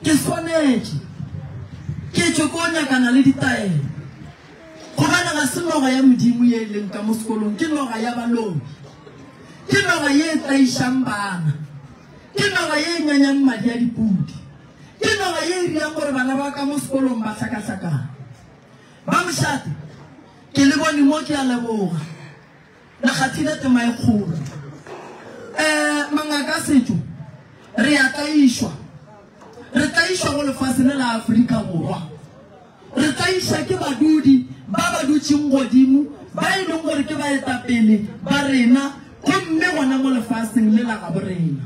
Ke swanetše ke tšwe ko nyakana le ditaelo, gobane ga se noga ya Modimo ye e leng ka mo sekolong, ke noga ya balobi, ke noga ye e tlaišang bana, ke noga ye e nyanyang madi a dipudi, ke noga ye e dirang gore bana ba ka mo sekolong ba hlakahlakane. Ba mošate, ke le bone mo, ke a leboga. Re kgathile tema e kgolo. Ee, mangaka a setšo re a tlaišwa. Re tlaišwa go lefase le la Afrika Borwa. Re tlaiša ke badudi ba ba dutšeng godimo ba e leng gore ke baetapele ba rena gomme gona mo lefaseng le la gabo rena.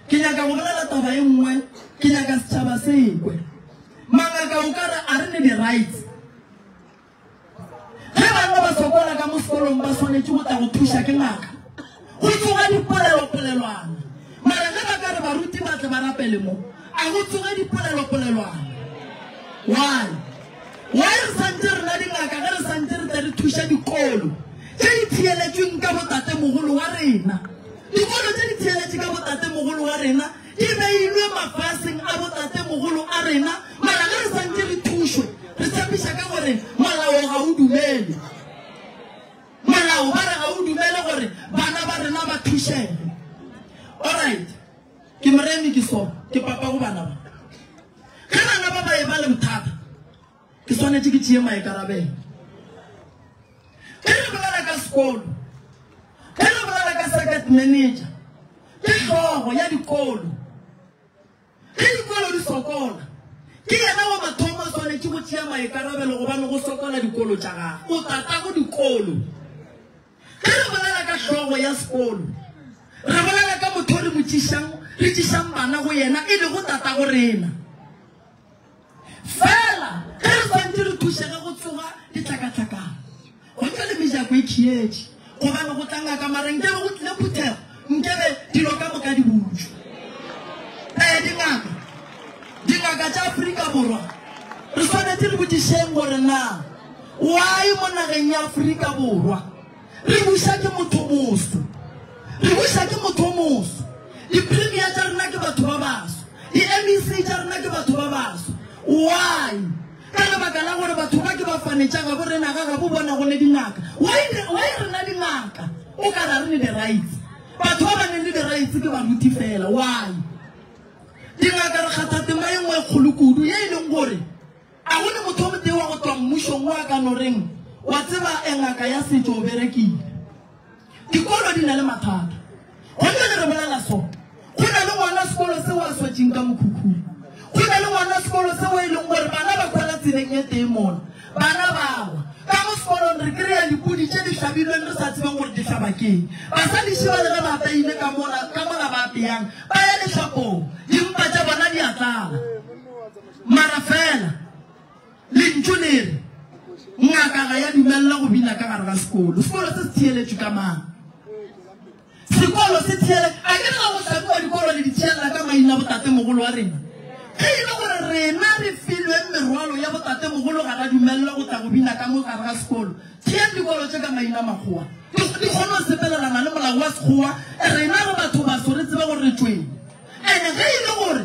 Ke nyaka go bolela taba e nngwe, ke nyaka setšhaba se ekwe. Mangaka o ka re a re ne di-rights. ge banna ba sokola ka mo sekolong ba swanetše go tla go thuša ke ngaka go tsoga dipolelopolelwana mara ge ba ka re baruti ba tle ba rapele mo a go tsoge dipolelopolelwana why why re santse re na dingaka ge re santse re tle re thuša dikolo tše di theeletsweng ka botatemogolo wa rena dikolo tše di theeletše ka botatemogolo wa rena Di beilwe mafaseng a botatemogolo a rena, mara ge re santše re thušwe, re tshepiša ka gore molao ga o dumele. Molao ba re ga o dumele gore bana ba rena ba thušege. Alright, ke moremi, ke so, ke papa go bana ba. Ge bana ba ba e ba le bothata, Ke swanetše ke tšee maikarabelo. Ge re bolela ka sekolo, ge re bolela ka circuit manager, ke hlogo ya dikolo. Ge dikolo di sokola, ke yena wa mathomo a swanetše go tšea maikarabelo gobane go sokola dikolo tša gagwe. O tatago dikolo. Ge re bolela ka hlogo ya sekolo, re bolela ka motho o re mo tšishang, re tšishang bana go yena, e lego tatago rena. Fela ge re swantše re thušege go tsoga ditlakatlakana, go ntle le mejako e khietši, gobane go tla ngaka mara nkebe go tlile phuthego, nkebe dilo ka moka di butšwe. Ee, dingaka, dingaka tša Afrika Borwa, re swanetše re botšišeng gore na why mo nageng ya Afrika Borwa, Re buša ke motho moso. Re buša ke motho o moso. Di-premier tša rena ke batho ba baso. Di-MEC tša rena ke batho ba baso. Why? Ka lebaka la gore batho ba ke ba fanetša gabo rena ga gabo bona go le dingaka. Why, why rena dingaka? O ka ra re ne di-rights. Batho ba ba neng le di-rights ke baruti fela. Why? Dingaka re kgatha tema e nngwe e kgolo kudu ye e leng gore A go ne motho yo motee wa go tšwa mmušong wo a ka no reng, Wa tseba, e, ngaka ya setšo o berekile? Dikolo di na le mathata. Go bjale re bolela so, go na le ngwana sekolo seo a swetšeng ka mokhukhung. Go na le ngwana sekolo seo e leng gore bana ba kwela tseleng e tee mola, bana ba wa. Ka mo sekolong re kry-a dipudi tše di hlabilweng re sa tsebeng gore di hlaba ke'ng. Basadi šiba le ge ba apeile ka mola, ka mola ba apeyang, ba ya lehlapong, dimpa tša bona di a tlala. Mara fela, Lentšu le re, Ngaka ga ya dumelela go bina ka gare ga sekolo. Sekolo se se theeletšwe ka mang? Sekolo se theele, a ke re ga go hlabiwa dikolo le di theelela ka maina botatemogolo wa rena? Ge e le gore rena re filwe merwalo ya botatemogolo ga ra dumelela go tla go bina ka mo gare ga sekolo, theeng dikolo tše ka maina makgowa. Di di kgone go sepelelana le molao wa sekgowa, rena re batho baso re tsebe gore re tšweng. And ge e le gore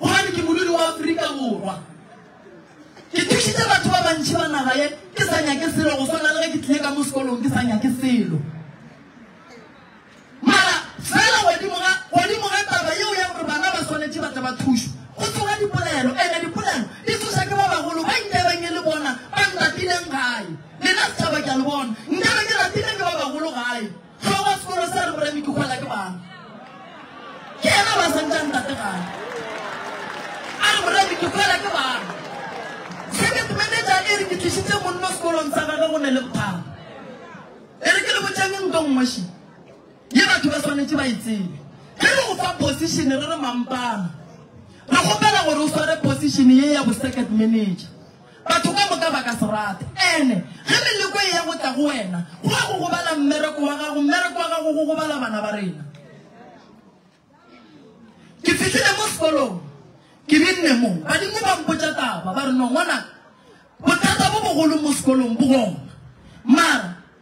Gobane ke modudi wa Afrika Borwa. Ke thušitše batho ba bantši ba naga ye ke sa nyake selo go swana le ge ke tlile ka mo sekolong ke sa nyake selo. Mara fela godimo ga godimo ga taba yeo ya gore bana ba swanetše ba tle ba thušwe, go tloga dipolelo, ene dipolelo di tsoša ke ba bagolo ba nkebeng e le bona ba ntatileng gae. Lena setšhaba ke a le bona, nkebe ke natileng ke ba bagolo gae. Ga wa sekolo sa rre Metukgwela ke mang? Ke yena ba sentšang ntate gae. A re morre Metukgwela ke mang? Circuit manager e re ke tlišitše monno sekolong sa gage go ne le bothata. E re ke le botšeng nto nngweši ye batho ba swanetše ba e tsebe. Ge re go fa position re re mampana re kgopela gore o sware position ye ya bo circuit manager. Batho ka moka ba ka se rate. Ene, ge meleko e ya go tla go wena, go a go gobala mmereko wa gago, mmereko wa gago go gobala bana ba rena. Ke fihlile mo sekolong, ke binne mo, badimo ba mpotša taba, ba re, No, ngwanaka, bothata bo bogolo mo sekolong bo gona. Mara,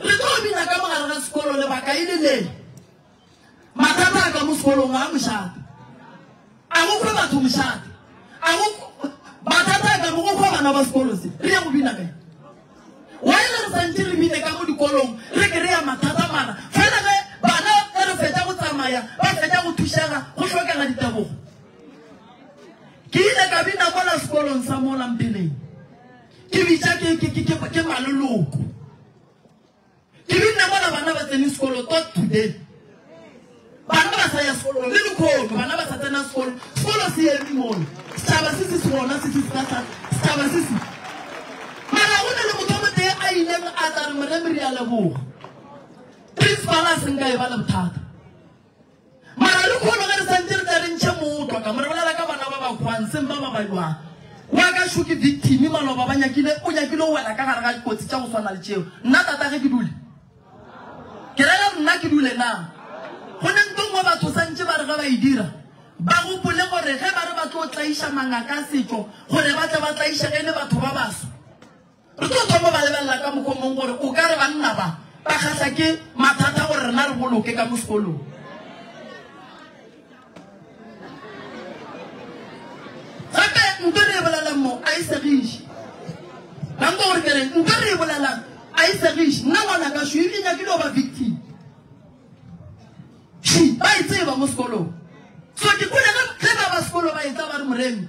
Re tlo bina ka mogare ga sekolo lebaka e le le mathata a ka mo sekolong a mošate a go fe batho mošate a go mathata a ka mo go fa bana ba sekolo se re ya go bina kae why re sa ntse re bine ka mo dikolong re ke re ya mathata mara fela ge bana ge re fetsa go tsamaya ba fetsa go thušega go tlhokega ditebogo ke ile ka bina mola sekolong sa mola mpeleng Ke bitša ke, ke, ke, ke, ke maloloko. Ke binne mola bana ba tsene sekolo tot today. Bana ba sa ya sekolo le lekhono, bana ba sa tsena sekolo. Sekolo se eme mola. Setšhaba se se se gona se se se ka tlhaka. Setšhaba se se. Mara go na le motho o motee a ileng a tla re moremere ya leboga. Principal a seng ka e ba le bothata. Mara le kgono ge re santse re tla re ntšhe motwa ka mo re bolela ka bana ba ba hwang seng ba ba ba jwang. Wa ka šo ke victim maloba ba nyakile o nyakile o wela ka gare ga dikotsi tša go swana le tšeo. Nna tata ge ke dule ke ra re nna ke dule na go ne nto nngwe batho santše ba re ge ba e dira ba gopole gore ge ba re ba tlo tlaiša mangaka a setšo gore ba tle ba tlaišege e le batho ba baso Re tlo thoma ba lebelela ka mokgwa mong gore o ka re banna ba ba kgahla ke mathata gore rena re boloke ka mo sekolong. Gape nto re e bolelang mo a e segiše. Ba nko gore ke reng? Nto re e bolelang a e segiše. Nna ngwana ka šwi e nyakile go ba victim. Šwi ba e tseba mo sekolong. So ke kule ge ba ba sekolo ba e tsa ba re moremi.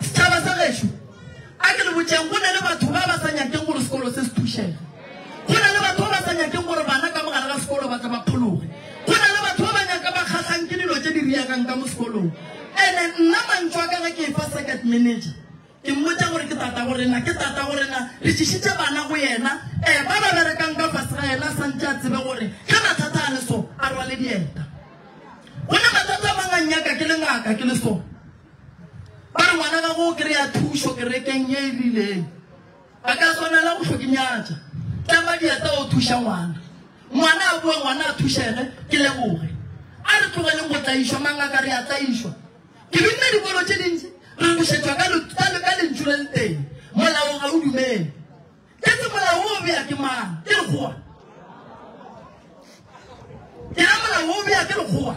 Setšhaba sa gešo, a ke le botšeng, go na le batho ba ba sa nyakeng gore sekolo se se thušege. Go na le batho ba ba sa nyakeng gore bana ka mogare ga sekolo ba tle ba phologe. Go na le batho ba ba nyaka ba kgatlhang ke dilo tše di riagang ka mo sekolong. Ene nna mantšu a ka ge ke e fa circuit manager, ke mmotša gore ke tata go rena, ke tata go rena, re tšišitše bana go yena, um ba ba berekang ka fase ga yena a sa ntše a tsebe gore ge mathata a le so, a rwale dieta. Go na matsatsi a mangwe nnyaka ke le ngaka ke le so. Ba re ngwana gago o kry-a thušo kerekeng ye e rileng. Ba ka swanela go tlhokinyatša. Tlama diatla o thuša ngwana. Ngwana a boe ngwana a thušege ke leboge. A re tlogeleng go tlaišwa mangaka re a tlaišwa. Ke binne dikolo tše dintši re bušetšwa ka lentšu le le tee, Molao ga o dumele. Ke se molao wo o bea ke mang? Ke lekgowa. Ke ra molao wo o bea ke lekgowa.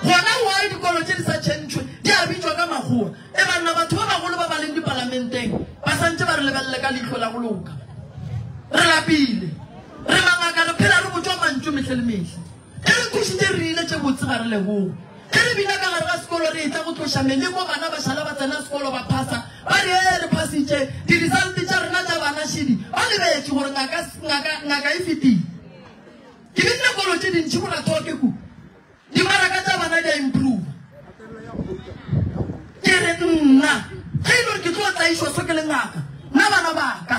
Gona wa dikolo tše di sa tšhentšhwe di a bitšwa ka makgowa. E banna batho ba bagolo ba ba leng dipalamenteng ba santše ba re lebelele ka leihlo la go loka. Re lapile. Re mangaka re phela re botšwa mantšu mehle le mehle. Ge re kwešiše re rile tše botse ba re leboge. Ge re bina ka gare ga sekolo re etla go tloša meleko bana ba šala ba tsena sekolo ba phasa ba re ee re phasitše. Di-result tša rena tša bana šidi ba lebetše gore ngaka, ngaka, ngaka e fetile. Ke binne kolo tše dintši go la Tlhoke ku. Dimaraka tša bana di a improva. Ke re nna ge e le gore ke tlo tlaišwa so ke le ngaka nna bana ba ka.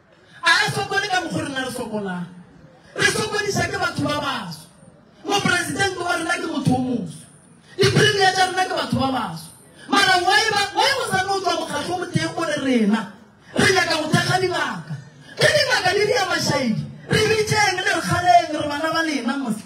A re sokole ka mokgwa rena re sokolang. Re sokodiša ke batho ba baso. Mopresidente wa rena ke motho o moso. Dipremia tša rena ke batho ba baso. Mara why ba why go sa no tšwa mokgatlo mo teng gore rena re nyaka go thekga dingaka. Ke dingaka di di ya mashaidi. Re bitšeng le re kgaleng re bana ba lena mose.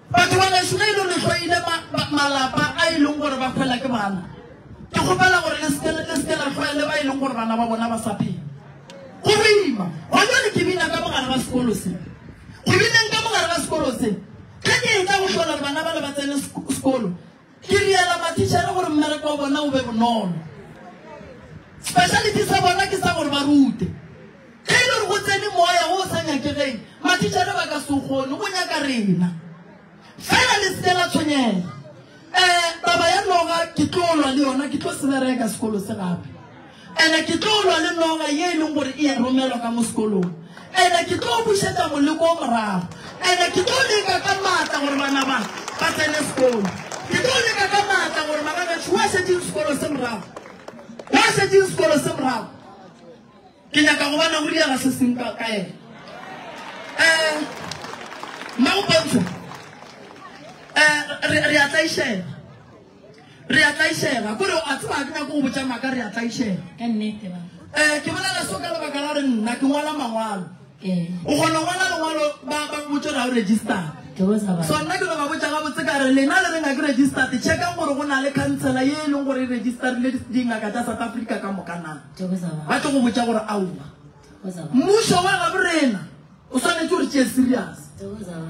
Batho ba geso ge e le gore go ile malapa a e leng gore ba fela ke bana, ke kgopela gore le seke le seke la tlwaele ba e leng gore bana ba bona ba sa phela. Go boima go jale ke bina ka mogare ga sekolo se. Go bineng ka mogare ga sekolo se, ge ke etsa go hlola gore bana ba le ba tsene sekolo, Ke riela matitšhere gore mmereko wa bona o be bonolo. Speciality sa bona ke sa gore ba rute. Ge e le gore go tsene moya o o sa nyakegeng, matitšhere ba ka se o kgone, go nyaka rena. Fela le seke la tshwenyega. Um Taba ya noga ke tlo lwa le yona, ke tlo se bereka sekolo se gape. Ene ke tlo lwa le noga ye e leng gore e a romelwa ka mo sekolong. Ene ke tlo bušetsa moleko o morago. Ene ke tlo leka ka maatla gore bana ba ba tsene sekolo. Ke tlo leka ka maatla gore bana betšho wa šetšeng sekolo se morago, wa šetšeng sekolo se morago. Ke nyaka go bona go direga se seng ka ka ene. Eh, Mmagopontsho, eh, re, re a tlaišela. Re a tlaišega. Kore o a tseba ga ke nyake go botša maaka, re a tlaišega. Ka nnete, ba. Ee, ke bolela so ka lebaka la gore nna ke ngwala mangwalo. Ee. O kgona go ngwala lengwalo ba ba go botša gore ga o registered. Ke bosa ba. So nna ke no ba botša gabotse ka re lena le reng ga ke registered, checkang gore go na le khansela ye e leng gore e registerile di- dingaka tša South Africa ka moka na. Ke bosa ba. Ba tlo go botša gore aowa. Bosa ba. Mmušo wa gabo rena o swanetše o re tšee serious. Ke bosa ba.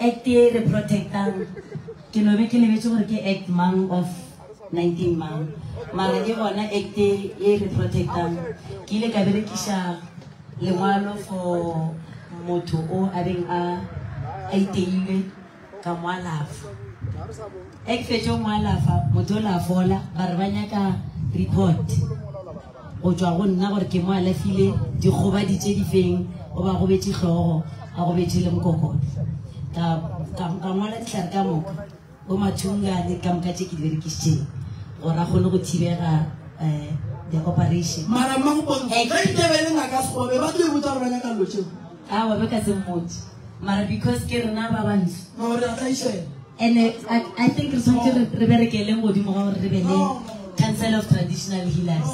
Act ye e re protectang ke no be ke lebetše gore ke Act mang of 19 mang mara ke gona Act ye e re protectang. Ke ile ka berekiša lengwalo for motho o a beng a a iteilwe ka mo alafa. Ge ke fetše go mo alafa motho o la fola ba re ba nyaka report. go tšwa go nna gore ke mo alafile dikgobadi tše di feng o ba gobetše hlogo a gobetše le mokokoto ka ngwala dihlare ka moka bo mathungane ka moka tše ke di berekišitšeng gore a kgone go thibega um the operation mara mmagopontebele ngaka segobe ba tlo e botsa gore ba nyaka lotšeo Aowa be ka se mmotse mara because ke rena ba bantsho. No re a tlaišela. And I, I, I think re tshwanetse re re berekeleng godimo ga gore re be le Council of Traditional Healers.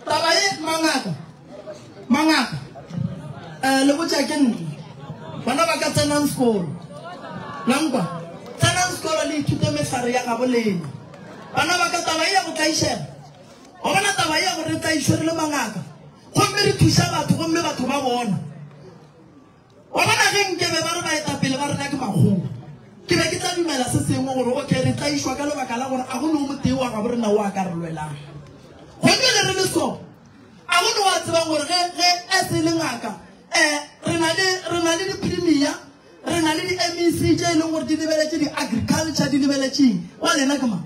Taba e mangaka. Mangaka. Eh le botša ke nna. Bana ba ka tsenang sekolo. La nkwa. Tsenang sekolo le ithute mehlare ya gabo lena. Bana ba ka taba e ya go tlaišela. Go bona taba e ya gore re tlaišwe re le mangaka. Gomme re thuša batho, gomme batho ba bona. Wa bona, ge nkebe ba re baetapele ba rena ke makgowa, ke be ke tla dumela se sengwe gore, okay, re tlaišwa ka lebaka la gore a go ne o motee wa gabo rena o a ka re lwelang. Gomme le re le so, a go ne wa tsebang gore ge, ge a se le ngaka, eh, re na le, re na le di-premier, re na le di-MEC tše e leng gore di lebeletše di-agriculture, di lebeletšeng, wa lena ke mang?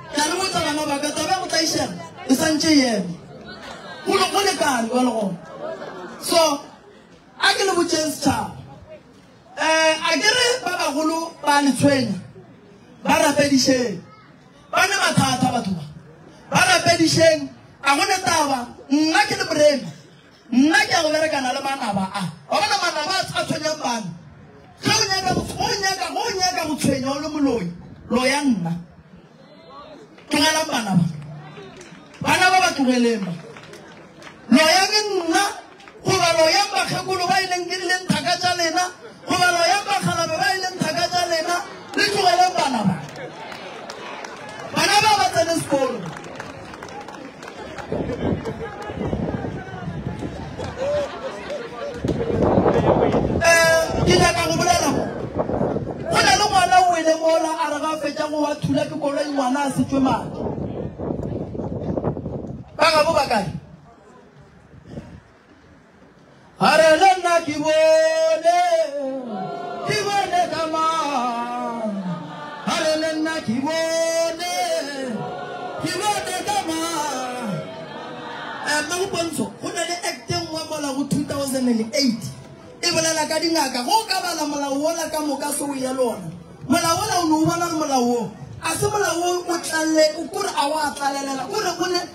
Ka re botsa bana ba ka, taba ya go tlaišega e sa ntše e eme. Go le go le kare go le gona. So, a ke le botšeng setšhaba. Eh, a ke re ba bagolo ba le tshwenya, ba rapedišeng. Ba ne mathata batho ba. Ba rapedišeng, a go ne taba, nna ke le morena. Nna ke ya go berekana le manaba a. Wa bona manaba a, a tshwenyang bana? Ge o nyaka go, ge o nyaka, ge o nyaka go tshwenya o le moloi, loya nna. Tlogelang bana ba. Bana ba ba tlogeleng ba. Loyang nna, goba loyang bakgekolo ba e leng ke leng thaka tša lena, goba loyang bakgalabe ba e leng thaka tša lena, le tlogeleng bana ba. Bana ba ba tsene sekolo. ke nyaka go bolela go na le ngwana o ele mola a re ga fetša go wa thula ke koloi ngwana a setswe madi ba gabo ba kae A re le nna ke bone, ke bone ka mang. A re le nna ke bone, ke bone ka mang. Eh, Mme Bopontsho, go na le act e nngwe mola go 2008 e bolela ka dingaka. Go ka bala molao wola ka moka se o ya lona. Molao wola o ne o bona gore molao wo a se molao o o tlalle o kore a wa tlalelela o re o ne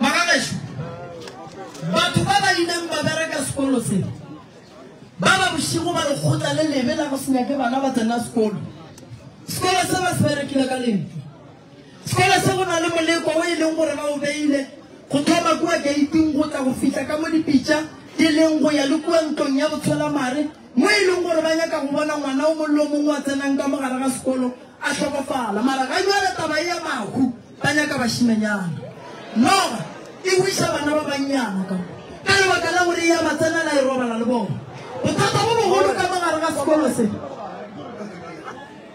Bagagešu, batho ba ba ileng ba bereka sekolo se ba ba bošigo ba lekgotla le lebe la go se nyake bana ba tsena sekolo. Sekolo se ba se berekile ka lentšu. Sekolo se go na le moleko o e leng gore ba o beile go thoma kua geiting go tla go fihla ka mo dipitša di leng go ya le kua ntlong ya botsholamare mo e leng gore ba nyaka go bona ngwana o mong le o mongwe wa tsenang ka mogare ga sekolo a hlokofala mara ga jwale taba e ya mahu ba nyaka bašimenyana noga e buisa bana ba bannyana ka ka lebaka la gore e ya ba tsenela e robala le bona bothata bo bogolo ka mogare ga sekolo se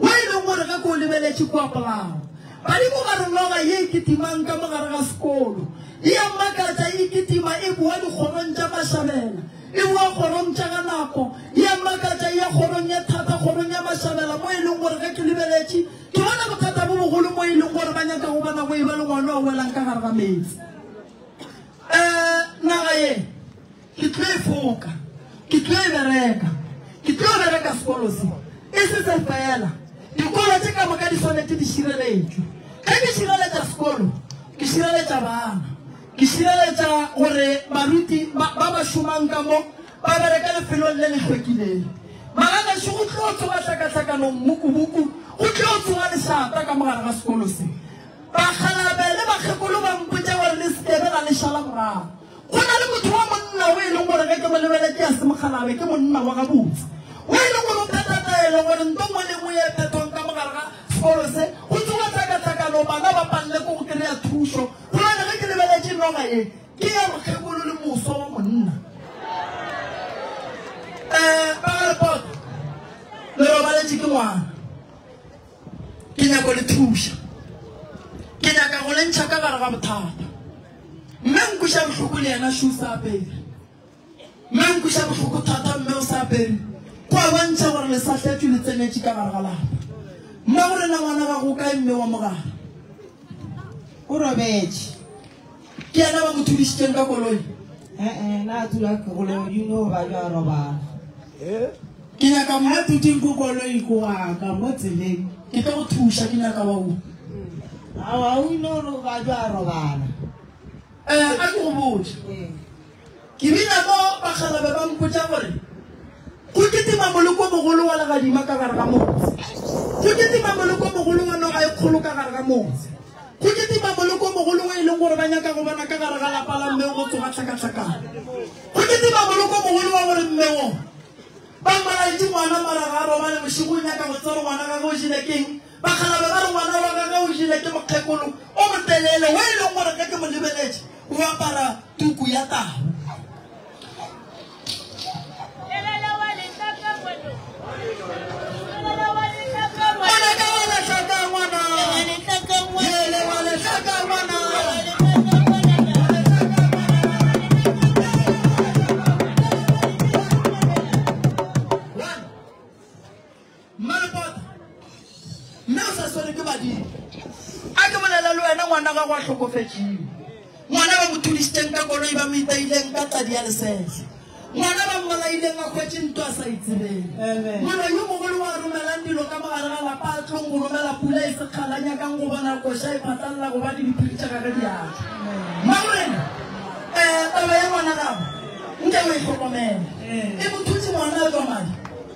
wo e lego gore ge ke o lebeletše kua polago badimo ba re noga ye e kitimang ka mo gare ga sekolo e ya makatša e kitima e boa dikgorong tša mašabela e boa kgorong tša ga nako e ya makatša e ya kgorong ye thata kgorong ya mašabela mo e leng gore ge ke lebeletše ke bona bothata bo bogolo mo e leng gore ba nyaka go bona go e ba le ngwana o welang ka gare ga meetse um naga ye Ke tlo e foka. Ke tlo e bereka. Ke tlo bereka sekolo se. E se se fela. Dikolo tše ka moka di swanetše di šireletšwe. Ge ke šireletša sekolo, ke šireletša bana. Ke šireletša gore baruti ba ba šomang ka mo ba bereka lefelong le le hlwekilego. Malalašu go tlo tsoga hlakahlakanong mmukubuku, go tlo tsoga lešata ka mogare ga sekolo se. Bakgalabje le bakgekolo ba mpotša gore le se ke be la le šala morago. Go na le motho wa monna o e leng gore ge ke mo lebele ke a se mokgalabe, ke monna wa gabotse, o e leng gore o phetha taelo gore nto nngwe le nngwe ye e phethwang ka mogare ga sekolo se, go tsoga tlhakatlhakano, bana ba palelwe ke go kry-a thušo. Gobane ge ke lebeletše noga ye, ke ya mokgekolo le moswa wa monna. Um, ba ga Lepota, le robaletše ke ngwana. Ke nyako le thuša. Ke nyaka go lentšha ka gare ga bothata. Mme nkuša bohloko le yena shu sa apere. Mme nkuša bohloko thata mme o sa apere. Kwa bontšha gore le sa hletšwe le tsenetše ka gare ga lapa. Mme gore na ngwana gago o kae mme wa mogare? O robetše. ke yena ba mo thudišitšeng ka koloi ee na a tula koloi you know ba jwa robala ke nyaka mo a tuting ko koloi ko waka mo tseleng ke tlo go thuša ke nyaka wa u awa u know ba jwa robala um a ke go botse Ke bina mo bakgalabje ba mpotša gore go kitima moleko-mogolo wa legadima ka gare ga motse, go kitima moleko-mogolo wa noga e kgolo ka gare ga motse, go kitima moleko-mogolo wo e leng gore ba nyaka go bona ka gare ga lapa la mme go tsoga tlhakatlhakana, go kitima moleko-mogolo wa gore mme wo ba mmalaetše ngwana mara ga a robale bošego o nyaka go tseba gore ngwana gagwe o jele keng. Bakgalabje ba re ngwana wa gage o jele ke mokgekolo o motelele wo e leng gore ge ke mo lebeletše o apara tuku ya tau. Mmalebotho, mme o sa swele ke badimo. A ke bolele le wena, ngwana gago a hlokofetšiwe. Ngwana ba mo thudišitšeng ka koloi, ba mo itaileng ka tadi ya lesehla. Ngwana ba mmolaileng a hwetše ntwa a sa itsebeng. Mollo yo mogolo wa romelang dilo ka mogare ga lapa a tlong go romela pula e sekgala, nyakang go bona koša e phatlalela gobane diphiri tša gage di a tšwa. Mmamorena, um taba ya ngwana gago nke o e hlokomele. E mo thutše ngwana a tšwa madi.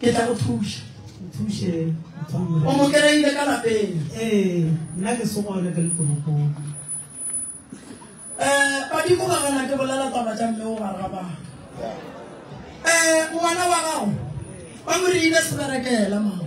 ke tla go thuša nthuše o mo kereile ka lapeng ee nna ke se gone ka letoropong um badimo ba gana ke bolela taba tša mme o baraba um ngwana wa gago ba mo reile seberekela mama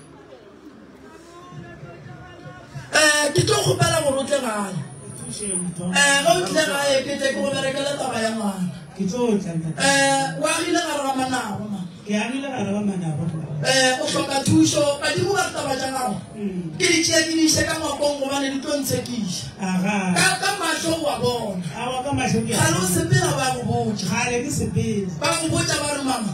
Eh, ke tlo kgopela gore o tle gae eh ga o tle gae ke tle ke go berekela taba ya ngwana ke tlo tla ntate eh o agile ga rra manago ma ke a rila bara ba manabo eh o hloka thušo badimo ba re taba tša gago Mm. ke di tšea ke di ise ka ngwakong gobane di tlo ntshekiša aga ka ka mahlo wa bona a wa ka mahlo ke ga lo sepela ba go botša kgale ke sepele ba go botša ba re mama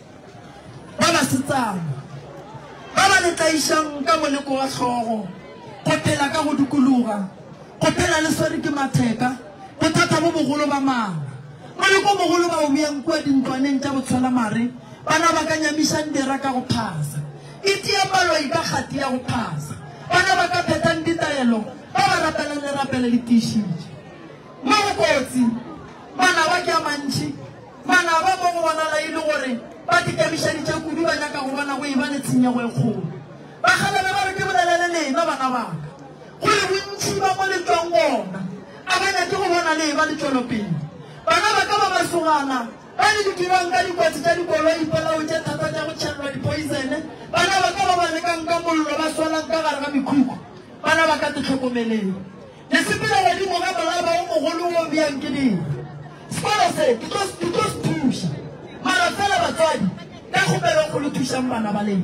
Ba basetsana ba ba le tlaišang ka moleko wa hlogo, go phela ka go dikologa, go phela le swere ke matheka, bothata bo bogolo ba mala. Moleko o mogolo ba o beyang kua dintlwaneng tša botshwelamare, bana ba ka nyamišang dira ka go phasa, itia paloi ka kgati ya go phasa, bana ba ka phethang ditaelo ba ba rapelang lerapela le tiišitše. Mo go kotsi, manaba ke a mantši. Manaba mo go bonala e le gore ba dikemišeditše kudu, ba nyaka go bona go e-ba le tshenyego e kgolo. Ba kgaleme ba re, Ke bolelele lena, bana ba ka, gore bontši ba mo le tšwang gona a ba nyake go bona le e-ba le tšwelopele. Bana ba ka ba masogana ba le di dirang ka dikotsi tša dikoloi, dipolao tše thata tša go tšhelelwa dipoisene, bana ba ka ba ba lekang ka mollo, ba swalang ka gare ga mekhukhu, bana ba ka, te hlokomeleng. Ke sepela godimo ga molaba o mogolo wo bjang ke di sekolo se ke tlo ke tlo se thuša mara fela batswadi ka kgopelo go le thušang bana ba leng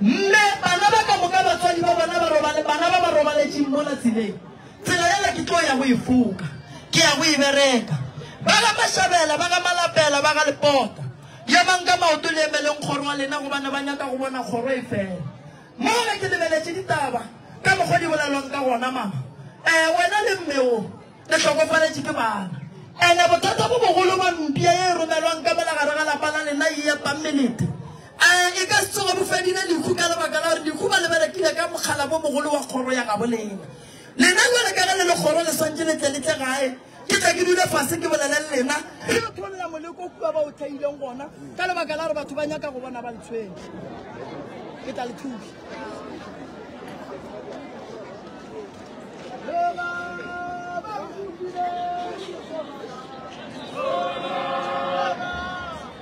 mme bana ba ka moka batswadi ba bona ba robale bana ba ba robaletseng mo la tseleng tsela yela ke tlo ya go e foka ke ya go e bereka ba ga mashabela ba ga malapela ba ga lepota ya mang ka maoto le emeleng kgoro wa lena go bana ba nyaka go bona kgoro e fela Mola ke lebeletše ditaba ka mokgwa di bolelwang ka gona, mama, ee, wena le mme wo le hlokofaletše ke bana. And-e bothata bo bogolo bja mpša ye e romelwang ka mola gare ga lapa la lena ye ya pamelete, ee, e ka se tsoge bo fedile lehu ka lebaka la gore lehu ba le berekile ka mokgalabo mogolo wa kgoro ya gabo lena. Lena jwale ka ge le le kgoro le swantše le tle le tle gae. Ke tle ke dule fase ke bolele le lena. Ke yo tholela moleko o kua ba o theileng gona ka lebaka la gore batho ba nyaka go bona ba ntshweng. Ke tla le thusa. Baba,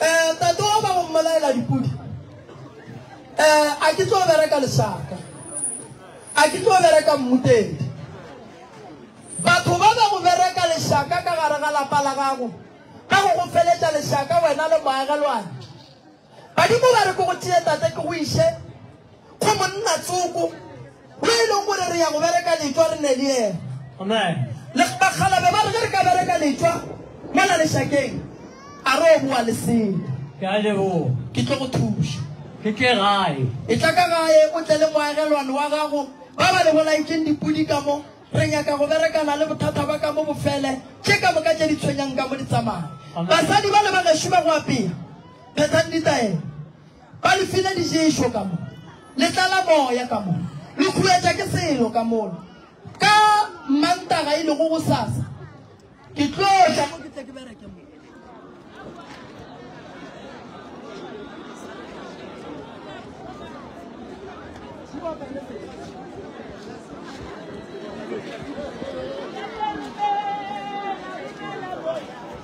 Eh, tate wa ba go mmolaela dipudi. Eh, a ke tlo bereka lesaka. A ke tlo bereka mmutedi. Batho ba ba go bereka lesaka ka gare ga lapa la gago. Ka go go feletša lesaka wena le moagelwane. Badimo ba re ke go tšee tate ke go iše Go monna tsoko, yo e lego gore re ya go bereka letšwa re ne le yena. Amen. Le bakgalabe ba re ge re ka bereka letšwa mola lešakeng, a re o boa le sele. Ke a leboga. Ke tlo go thuša. Ke tle gae. E tla ka gae o tle le moagelwane wa gago ba ba le bolaetšeng dipudi ka mo. Re nyaka go berekana le bothata ba ka mo bofele tše ka moka tše di tshwenyang ka mo di tsamaya. Basadi ba le bagešo ba go apea, phethang ditaelo. Ba le file diješo ka mo, le tlala moya ka mo, le khuetša ke selo ka mola. Ka Mmantaga e lego gosasa, ke tlo tla mo ke tle ke bereke mo.